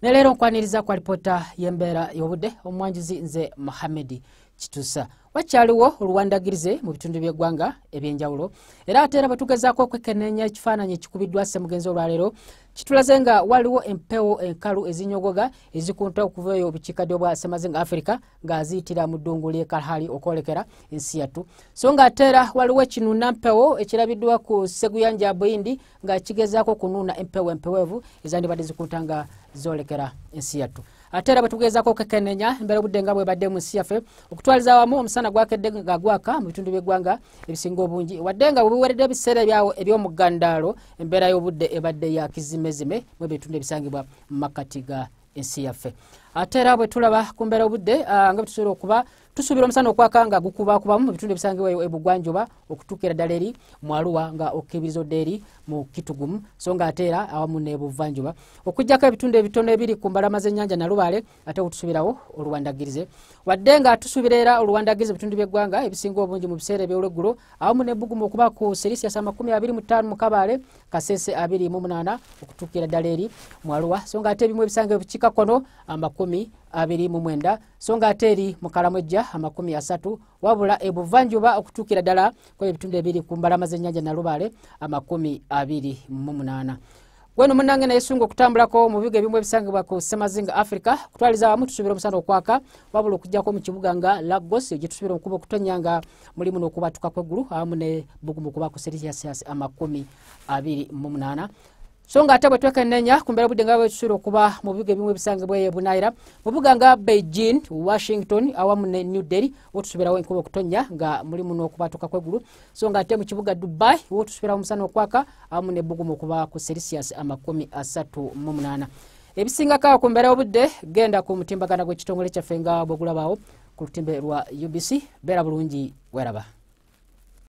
ne leero nkwaniriza kwa lipoota y'embeera y'obudde omwanjuzi nze muhammedi kitusa wakyaliwo oluwandagirize mu bitundu by'eggwanga eby'enjawulo era ate era bwetugezaako okwekeneenya ekifaananyi ekikubiddwa ssemugenzi olwaleero kitulaze nga waliwo empewo enkalu ezinyogoga ezikunta okuva eyo obukiikaddyo bwa ssemazinga afirika nga ziyitira mu ddungu ly'e kalhali okwolekera ensi yattu so nga ate era waliwo ekinunampewo ekirabiddwa ku seguyanja buyindi nga kigezaako okunuuna empewo empeweevu ezandibadde zikunta nga zoolekera ensi yattu ate era bwetugeezako okekenenya embeera obudde nga bwebadde mu nsi yaffe okutwaliza awamu omusana gwakedde nga gwaka mu bitundu by'eggwanga ebisinga obungi wadde nga bwebuweredde ebiseera ebyawo eby'omugandaalo embeera y'obudde ebadde ya kizimezime mu ebitundu ebisangibwa mu makkati ga ensi yaffe ate era bwetulaba ku mbeera obudde ah, nga bwetusobola okuba tusuubira omusana okwaka nga gukubakubamu mu bitundu ebisangibwa ebugwanjuba okutuukira ddala eri mu aluwa nga okukebiriza odda eri mu kitugumu so nga ate era awamu nebuvanjuba okujjako ebitundu ebitono ebiri ku mbalama z'ennyanja nalubaale ate okutusuubirawo oluwandagirize wadde nga tusuubira era oluwandagirize ebitundu by'eggwanga ebisinga obungi mu biseera ebyolweggulo awamu nebbugumu okuba ku serisias amakumi abiri mu ttaano mu kabaale kasese abiri mu munaana okutuukira ddala eri mu aluwa so nga ate ebimu ebisanga ebukiika kono amakumi abiri mu mwenda so nga ate eri mu kalamwejja amakumi asatu wabula ebuvanjuba okutuukira ddala kwe ebitundu ebiri ku mbalama z'ennyanja nalubaale amakumi abiri mu munaana weno munange naye sunga okutambulako mu bibuga ebimu ebisangibwa ku semazinga africa kutwaliza wamu tusuubira omusana okwaka wabula okujjako mu kibuga nga lagos gyetusuubira omukuba okutonya nga mulimu n'okubatuka kweggulu awamu ne bugumu kuba ku serisiasi amakumi abiri mu munaana so nga ate bwetwekenenya ku mbeera obudde nga bwetusuula okuba mu bibuga ebimu ebisangibwa eyo ebunaayira mu bibuga nga beijing washington awamu ne new delhi wotusubirawo enkuba okutonnya nga mulimu n'okubatuka kwegulu so nga ate mu kibuga dubai wotusubirawo omusana okwaka awamu nebbugumu okuba ku celsius amakumi asatu mu munaana ebisingako awo ku mbeera y'obudde genda ku mutimbagana gw'ekitongole kyaffe nga bwegulabaawo ku lutimbe lwa ubc beera bulungi weraba